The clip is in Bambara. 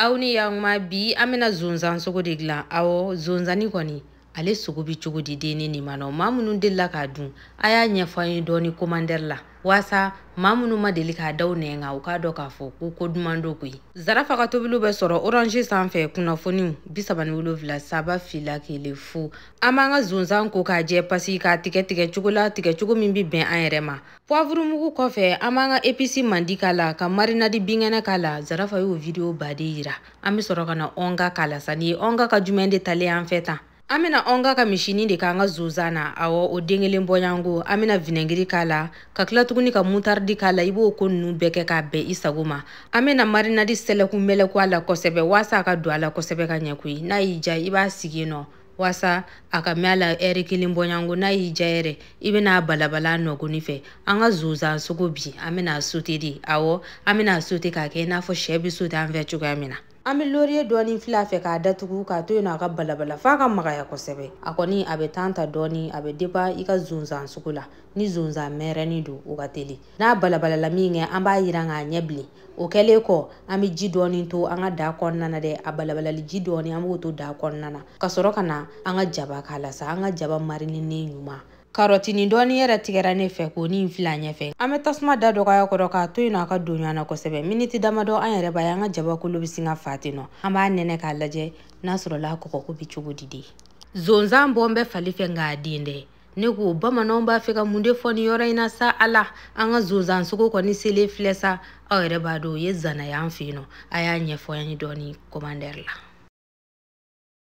aw ni yakuma bi an bɛna zonzan sogo de dilan awɔ zonzani kɔni ale sogo bɛ cogo di de ni nin ma nɔ maa minnu delila k'a dun a y'a ɲɛfɔ an ye dɔɔni komandɛri la waasa maa minnu ma deli k'a da u nɛn kan u k'a dɔn k'a fɔ ko ko duman don koyi zarafa ka tobiliw bɛ sɔrɔ orange sanfɛ kunnafoniw bi saba ni wolonfila saba fila kelen fu an b'an ka zonzan ko k'a jɛ pasi k'a tigɛ tigɛ cogo la tigɛ cogo min bɛ bɛn an yɛrɛ ma puwavurumugu kɔfɛ an b'an ka episi mandi k'a la ka marinadi binkɛnɛ k'a la zarafa y'o video baden yira an bɛ sɔrɔ ka na ɔnga k'a la sa nin ye ɔnga ka jumɛn de talen an fɛ tan an bɛna ɔnga ka misini de k'an ka zonzan na awɔ o den kelen bɔɲango an bɛna vinɛgiri k'a la ka tila tuguni ka mutaridi k'a la i b'o ko nunu bɛɛ kɛ k'a bɛn i sago ma an bɛna marinadi sɛlɛku mɛlɛku a la kosɛbɛ waasa a ka don a la kosɛbɛ ka ɲɛ koyi n'a y'i ja i b'a sigi yen nɔ waasa a ka mɛn a la ɛri kelen bɔɲango n'a y'i ja yɛrɛ i bɛn'a balabala nɔgɔni fɛ an ka zonzan sogo bi an bɛn'a sote de awɔ an bɛn'a sote k'a kɛ i n'a fɔ sɛ bɛ sote an fɛ cogoya min na an bɛ loriye dɔɔni fil'a fɛ k'a datugu k'a to yen nɔ a ka balabala f'a ka magaya kosɛbɛ a kɔni a bɛ tan ta dɔɔni a bɛ depan i ka zonzan sugu la ni zonzan mɛrɛni don o ka teli n'a balabalala minkɛ an b'a yiran k'a ɲɛ bilen o kɛlen kɔ an bɛ ji dɔɔni to an ka da kɔnɔna na dɛ a balabalali ji dɔɔni an b'o to da kɔnɔna na ka sɔrɔ ka na an ka jaba k'a la sa an ka jaba marininen ɲuman karɔtini dɔɔni yɛrɛ tigɛra ne fɛ k'o ni fil'a ɲɛfɛ an bɛ tasuma da dɔgɔya a kɔrɔ k'a to yen nɔ a ka don ɲɔgɔn na kosɛbɛ miniti damadɔ an yɛrɛ b'a ye an ka jabakolo bɛ sin ka fa ten nɔ an b'a nɛnɛ k'a lajɛ n'a sɔrɔla a kɔgɔko bɛ cogo di de zonzan bɔlen bɛ fali fɛ nk'a den tɛ ne ko bamananw b'a fɛ ka mun de fɔ nin yɔrɔ in na sa ala an ka zonzansogo kɔni selen filɛ sa aw yɛrɛ b'a dɔn o ye zana y'an fɛ yen nɔ a y'a ɲɛfɔ an ye dɔɔni kɔmandɛri la